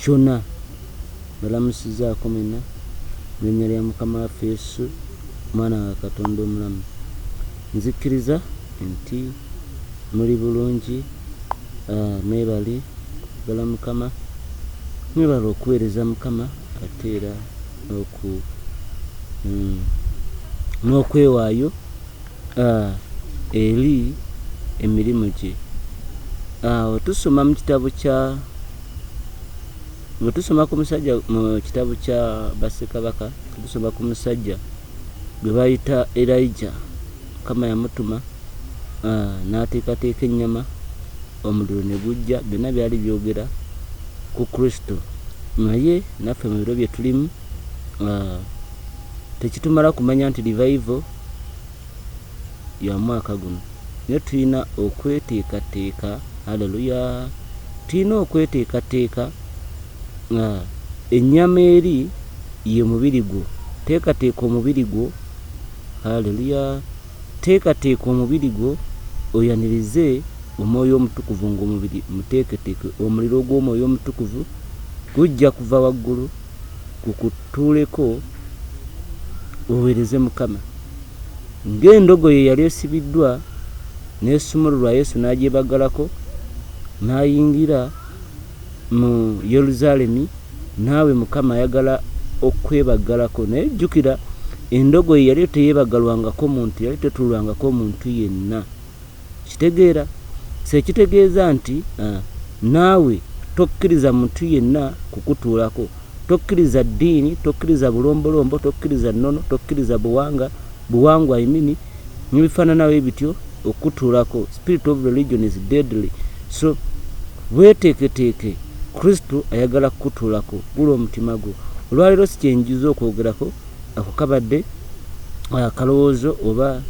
kyona mbalamusiza akomena mulinya lya mukama waffe yesu mwana wa katonda omulamu nzikiriza nti muli bulungi mwebale kwagala mukama mwebale okuwereza mukama ate era noku mm, nokwewayo A. Eri emirimu gye. A. Bwe tusoma mu kitabo kya Bwe tusoma ku musajja mu kitabo kya Bassekabaka, tusoma ku musajja gwe bayita Erija. Mukama yamutuma a, n'ateekateeka ennyama, omuliro ne gujja. Byonna byali byogera ku Kristo. Naye naffe mu biro bye tulimu a, tekitumala kumanya nti Revival, ya mwaka guno naye tulina okweteekateeka aleluya tulina okweteekateeka nga ennyama eri ye mubiri gwo teekateeka omubiri gwo aleluya teekateeka omubiri gwo oyanirize omwoyo omutukuvu ng'omubiri muteeketeeke omuliro ogw'omwoyo omutukuvu gujja kuva waggulu kukutuuleko oweereze Mukama. Ng'endogoyi eyali esibiddwa n'esumululwa, Yesu n'agyebagalako n'ayingira mu Yerusaalemi. Naawe Mukama ayagala okwebagalako. Naye jjukira, endogoyi yali teyeebagalwangako muntu, yali tetuulwangako muntu yenna. Okitegeera? So ekitegeeza nti, uh, naawe tokkiriza muntu yenna kukutuulako. Tokkiriza ddiini, tokkiriza bulombolombo, tokkiriza nnono, tokkiriza buwanga, buwangwa I mean, nebifaanana bwe bityo okukutuulako. Spirit of religion is deadly. So weeteeketeeke, Kristo ayagala kukutuulako. Gula omutima gwo. Olwaleero sikyenjiza okwogerako. Ako kabadde akalowoozo oba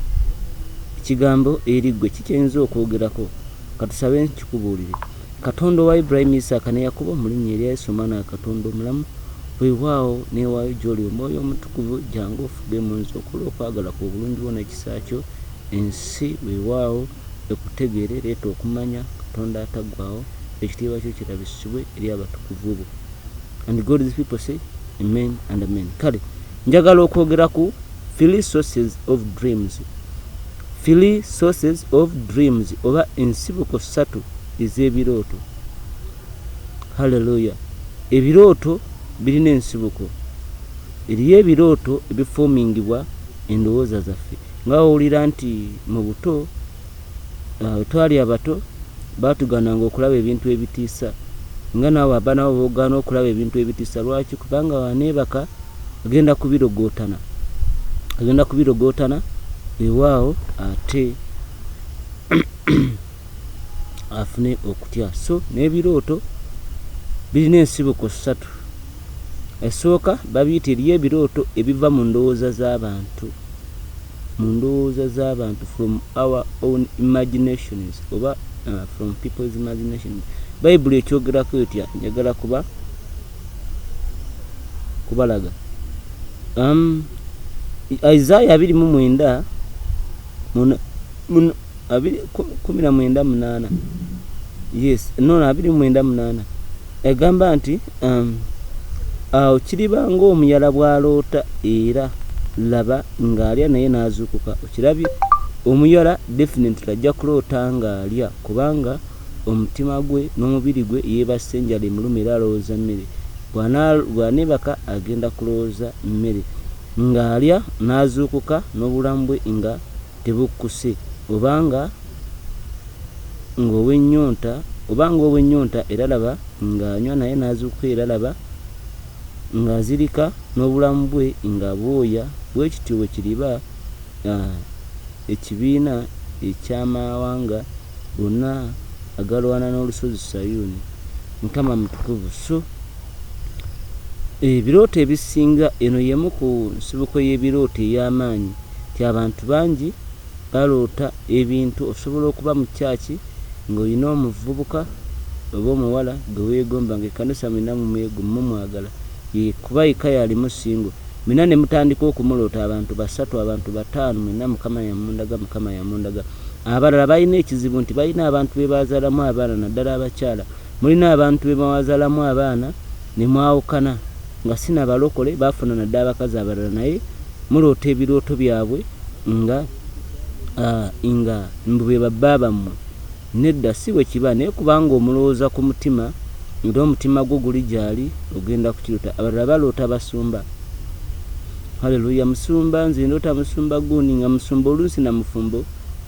ekigambo eri ggwe kiki oyinza okwogerako. Ka tusabe nkikubuulire. Katonda owa Ibulayimu, Isaaka, ne Yakobo, mu Linnya erya Yesu, Omwana wa Katonda omulamu, weewaawo, neewaayo gy'Oli, Omwoyo Omutukuvu, jjangu ofuge mu nze okole okwagala Kwo, obulungi Bwo, n'ekisa Kyo. Ensi, weewaawo, Ekutegeere. Leeta okumanya, Katonda Ataggwaawo. Ekitiibwa Kyo kirabisibwe eri abatukuvu Bo. and God these people say amen and amen kale njagala okwogera ku three sources of dreams three sources of dreams oba ensibuko ssatu ez'ebirooto halleluya ebirooto birina ensibuko eriyo ebirooto ebifoomingibwa endowooza zaffe nga wawulira nti mu buto Bwe twali abato, baatugaananga okulaba ebintu ebitiisa. Nga naawe abaana bo b'ogaana okulaba ebintu ebitiisa. Lwaki? Kubanga bw'aneebaka, agenda kubirogootana. Agenda kubirogootana, weewaawo, ate afune okutya. So, n'ebirooto birina ensibuko ssatu. Esooka, babiyita eriyo ebirooto ebiva mu ndowooza z'abantu. mu ndowooza z'abantu from our own imaginations oba from people's imaginations bayibuli ekyogerako etya njagala kuba kubalaga um, isaya 29 abiri kumi na mwenda munaana yes no abiri mwenda munaana egamba nti um, awo kiriba ng'omuyala bw'aloota era laba ng'alya naye n'azuukuka okirabye omuyala definitely ajja kuloota ng'alya kubanga omutima gwe n'omubiri gwe yeebassa enjala emuluma era alowooza mmere bw'aneebaka agenda kulowooza mmere ng'alya n'azuukuka n'obulamu bwe nga tebukkuse, oba nga, nga ow'ennyonta, oba nga ow'ennyonta, era laba, nga anywa naye n'azuukuka, era laba, nga azirika, n'obulamu bwe nga bwoya. Bwe kityo bwe kiriba, a, ekibiina eky'amawanga gonna agalwana n'Olusozi Sayuuni. Mukama mutukuvu! So. Ebirooto ebisinga, Eno y'emu ku nsibuko y'ebirooto ey'amaanyi nti abantu bangi baloota ebintu. Osobola okuba mu kyaaci ng'olina omuvubuka oba omuwala gwe weegomba ng'ekkanisa mwena mumwagala ye kuba yekka y'alimu singo mwena ne mutandika okumuloota abantu basatu, abantu bataano mwena Mukama yamundaga, Mukama yamundaga. Abalala balina ekizibu nti balina abantu be baazaalamu abaana naddala abakyala. Mulina abantu bemwawazalamu abaana nemwawukana nga sinabalokole bafuna nadda abakazi abalala naye muloota ebilooto byabwe nga nga mbu bebabba bamwe nedda sibwekiba naye kubanga omulowoza kumutima era omutima gwo guli gyali ogenda kukilota abalala baloota basumba hallelujah musumba nze ndoota musumba gundi nga musumba olunsi namufumbo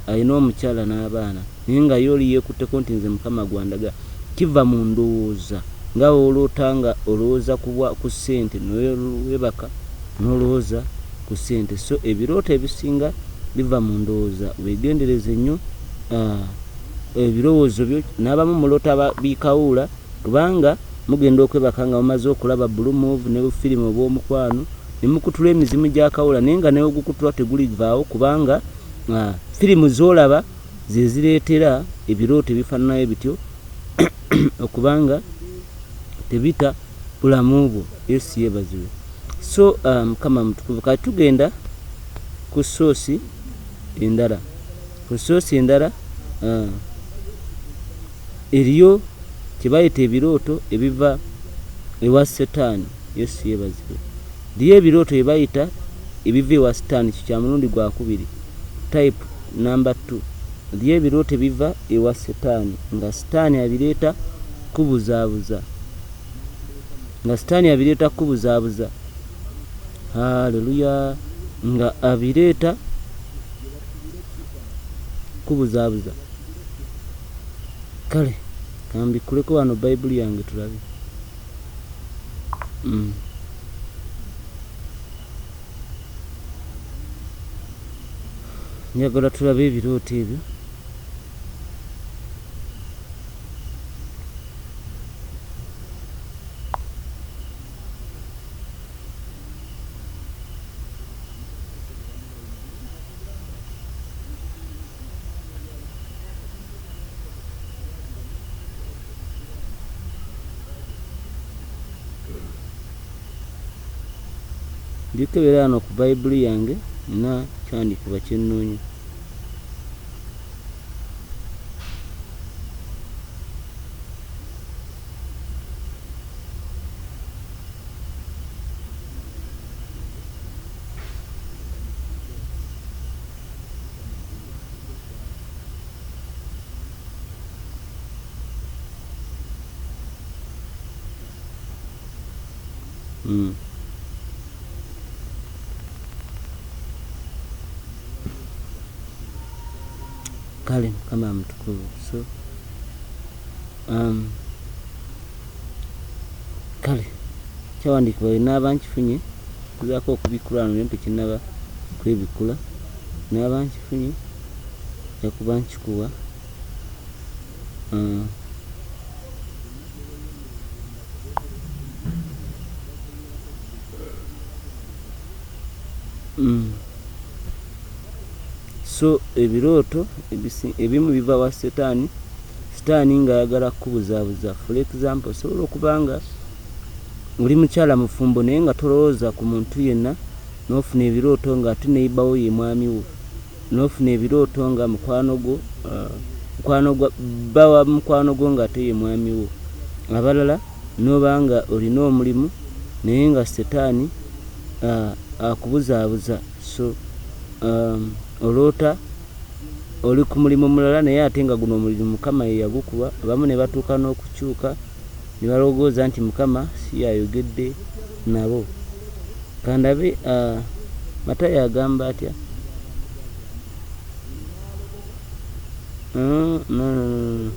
alina omukyala nabaana. Naye nga ye oli yekutteko nti nze mukama gwandaga kiva mu ndowooza nga woloota nga olowooza ku bwa ku sente newebaka nolowooza ku sente so ebirooto ebisinga biva mu ndowooza wegendereze nyo ahh ebirowoozo byo nabamu muloota ba bi kawuula kubanga mugenda okwebaka nga mumaze okulaba blue move ne bu film obwomukwano ne mukutula emizimu gya kawuula naye nga newegukutulwa teguli vaawo kubanga ahh film zolaba ze zireetera ebirooto ebifaananayo bityo okuba nga tebita bulamu bwo yesu yeebazibwe so uh, mukama um, mutukuvu kati tugenda ku soosi endala ku soosi endala uh, eriyo kyebayita ebirooto ebiva ewa setaani yesu yebazibwe liyo ebirooto byebayita ebiva ewa sitaani kyo kya mulundi gwakubiri type Number two byo ebirote biva ewa sitani nga sitani abireta kubuzabuza nga sitani abireta kubuzabuza haleluya nga abireta kubuzabuza kale kambikuleko wano bayibuli yange tulabe mm. njagala tulabe ebirooto ebyo Ndikebera wano ku Bayibuli yange nina kyandikuba kye nnoonya. Mm. kale mukama mutukuvu so um, kale kyawandiikibwa wenaaba nkifunye kuzaako okubikulano naye tekinaba kwebikula naaba nkifunye jakuba nkikuwa uh, Mm. so ebirooto ebimu biva wa setaani sitaani ng'ayagala kukubuzaabuza for example osobola okuba nga oli mukyala mufumbo naye nga tolowooza ku muntu yenna n'ofuna ebirooto ng'ate neyibawo ye mwami wo nofuna ebirooto nga mukwano gwo mukwano gwa bba wa mukwano gwo ng'ate ye mwami wo abalala n'oba nga olina omulimu naye nga setaani akubuzaabuza so um, oloota oli ku mulimu mulala naye ate nga guno omulimu mukama ye yagukuba abamu ne batuuka n'okukyuka ne balowooza nti Mukama si y'ayogedde nabo. Ka ndabe, a, Matayo agamba atya? No, no, no, no, no.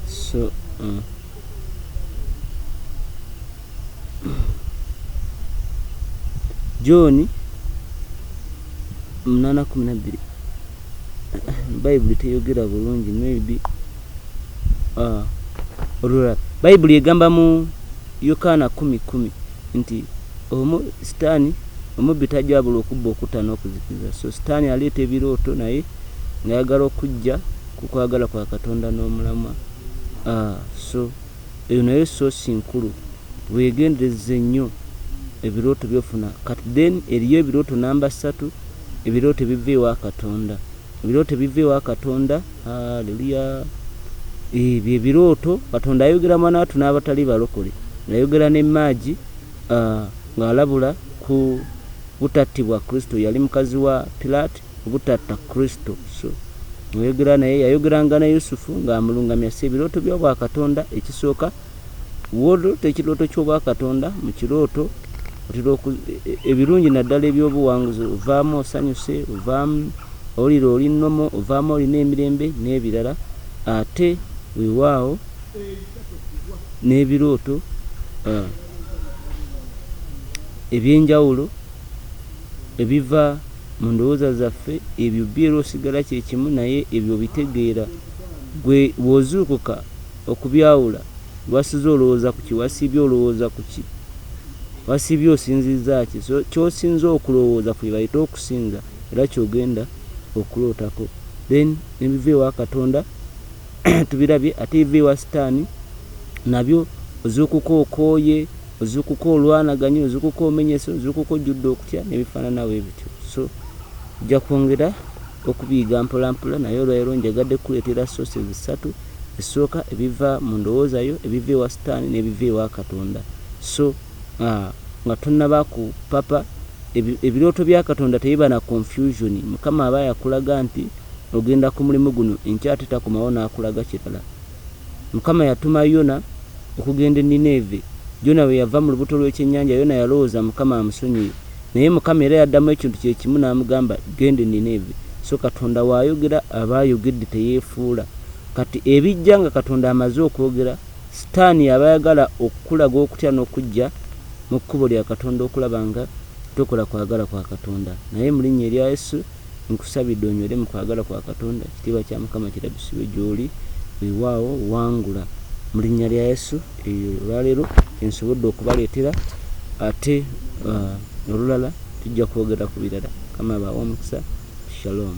So, uh. John munana kumi na bbiri bayibuli teyogera bulungi maybe ah, olulala bayibuli egamba mu yokaana kumi kumi nti omu sitaani omubbi tajabula okubba okutta n'okuzikiza so sitaani aleeta ebirooto naye ngayagala okujja kukwagala kwa katonda n'omulamwa ah, so Eyo nayo source nkulu. Wegenderezze nnyo ebirooto byofuna kati then eriyo ebirooto number ssatu ebirooto ebiva ewa katonda ebirooto ebiva ewa katonda hallelujah eeh bye birooto katonda ayogera mwanaatu n'abatali balokole yayogera ne maagi aah ng'alabula ku butattibwa kristo yali mukazi wa pilat obutatta Kristo. So ng'ayogera naye, yayogeranga ne Yusufu ng'amulungamya. So ebirooto by'obwakatonda, ekisooka, w'oloota ekirooto ky'obwakatonda, mu kirooto otera oku, e, e, ebirungi naddala eby'obuwanguzi, ovaamu osanyuse, ovaamu owulira oli nnomo, ovaamu olina emirembe n'ebirala. Ate weewaawo n'ebirooto uh, eby'enjawulo ebiva Mu ndowooza zaffe ebyo biera osigala kye kimu naye ebyo obitegeera. Ggwe bw'ozuukuka okubyawula, lw'asiza olowooza ku ki? Wasiibye olowooza ku ki? Wasiibye osinziza ki? So ky'osinza okulowooza ku bye bayita okusinza era ky'ogenda okulootako. Then ne biva ewa Katonda. tubirabye ate biva ewa sitaani nabyo ozuukuka okooye ozuukuka olwanaganye ozuukuka omenyese ozuukuka ojjudde okutya nebifaananawo ebityo so ojja kwongera okubiyiga mpolampola naye olwaliro njagadde kukuleetera sources ssatu esooka ebiva mu ndowooza yo ebiva ewa sitaani n'ebiva ewa katonda so A, Nga tonaba ku papa, ebi, ebirooto bya Katonda tebiba na confusion. Mukama aba yakulaga nti ogenda ku mulimu guno enkya ate takomawo n'akulaga kirala. Mukama yatuma Yona okugenda e Nineeve. Jona bwe yava mu lubuto lw'ekyennyanja, Yona yalowooza Mukama amusonyiye. Naye Mukama era yaddamu ekintu kye kimu n'amugamba, Genda e Nineeve. So Katonda w'ayogera aba ayogedde teyeefuula. Kati ebijja nga Katonda amaze okwogera. Sitaani aba ayagala okukulaga okutya n'okuggya mu kkubo lya Katonda okulaba nga tokola kwagala kwa Katonda. Naye mu linnya erya Yesu, nkusabidde onywere mu kwagala kwa Katonda. Ekitiibwa kya Mukama kirabisibwe gy'oli. Weewaawo, wangula. Mu linnya lya Yesu, eyo olwaleero kye nsobodde okubaleetera. Ate uh, olulala tujja kwogera ku birala. Mukama abaawe omukisa. Shalom.